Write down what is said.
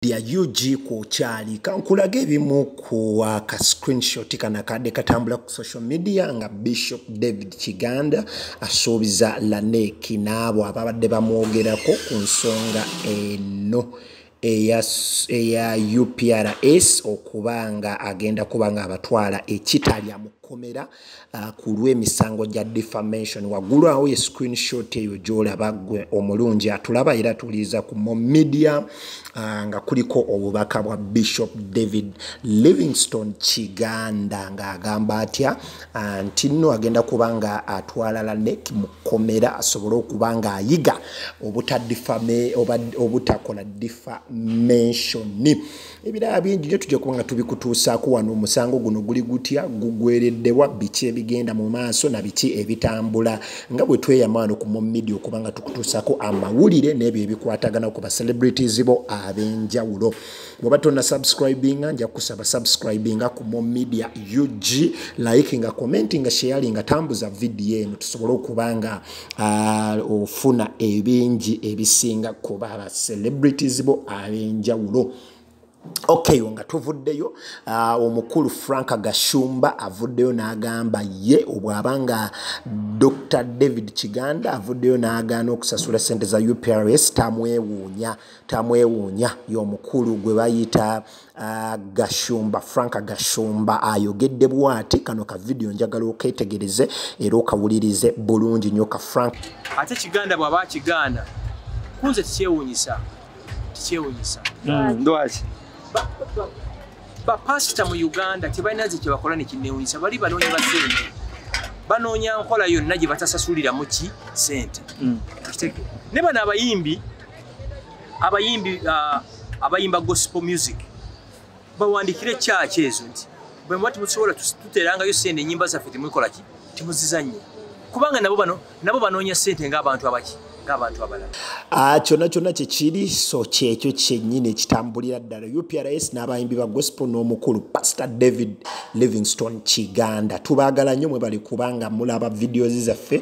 ya ug kwokyali kankulage ebimu ku aka screenshot kana kadde katambula ku social media nga bishop david kiganda asuubiza laneki n'abo ababadde bamwogerako ku nsonga eno eya uprs okuba nga agenda kuba nga abatwala ekitalya mu kkomera Ah, ku lw'emisango gya defamation waggulu awo ye screenshot eyo gyolaba gwe omulungi atulaba era tuliiza ku mo media ah, nga kuliko obubaka bwa bishop david livingston kiganda ng'agamba atya ah, nti nno agenda kuba nga atwala lanek mu kkomera asobole okuba ng'ayiga obutadifame obutakola defamationi ebiraba bingi nyo tujja kuba nga tubikutuusaako wano omusango guno guli gutya gugwereddewa biki ebigenda mu maaso na biki ebitambula nga bwe tweyama wano ku mumidia okuba nga tukutuusaako amawulire n'ebyo ebikwatagana ku bacelebrities bo ab'enjawulo bweoba tonna subscribinga nja kukusaba subscribinga ku mumidia ug like nga commenti nga sheyalinga tambuza vidiyo eno tusobole okuba nga Ah, ofuna ebingi ebisinga kuba aba celebrities bo ab'enjawulo Okay, nga tuvuddeyo uh, omukulu frank gashumba avuddeyo n'agamba ye obwaba nga dr david kiganda avuddeyo n'agaana okusasula sente za uprs tamwewuunya tamwewuunya y'omukulu gwe bayita Ah, gashumba frank gashumba ayogedde bwati kano ka vidiyo njagala oketegereze era okawulirize bulungi nyo ka frank ate kiganda bwaba akigaana kunze tikyewunyisa tikyewunyisa hmm, lwaki bapasita mu uganda tebalina ze kyebakola nekinewunyisa bali banoonya basente banoonya nkola yonna gye batasasuliramu ki sente hmm. ne bano abayimbi abayimbi uh, abayimba gospel music bawandikire church ezo nti bwe mwati musobola tuterangayo sente enyimba zaffe temukola ki temuzizanye kubanga nabo bano nabo banoonya sente ng'abantu abaki ng'abantu abalala ah, kyonna kyonna kyekiri so kyekyo kyennyini ekitambulira ddala uprs n'abayimbi ba gospel n'omukulu pastor david livingstone kiganda tubaagala nnyo mwe bali kubanga mulaba videos zaffe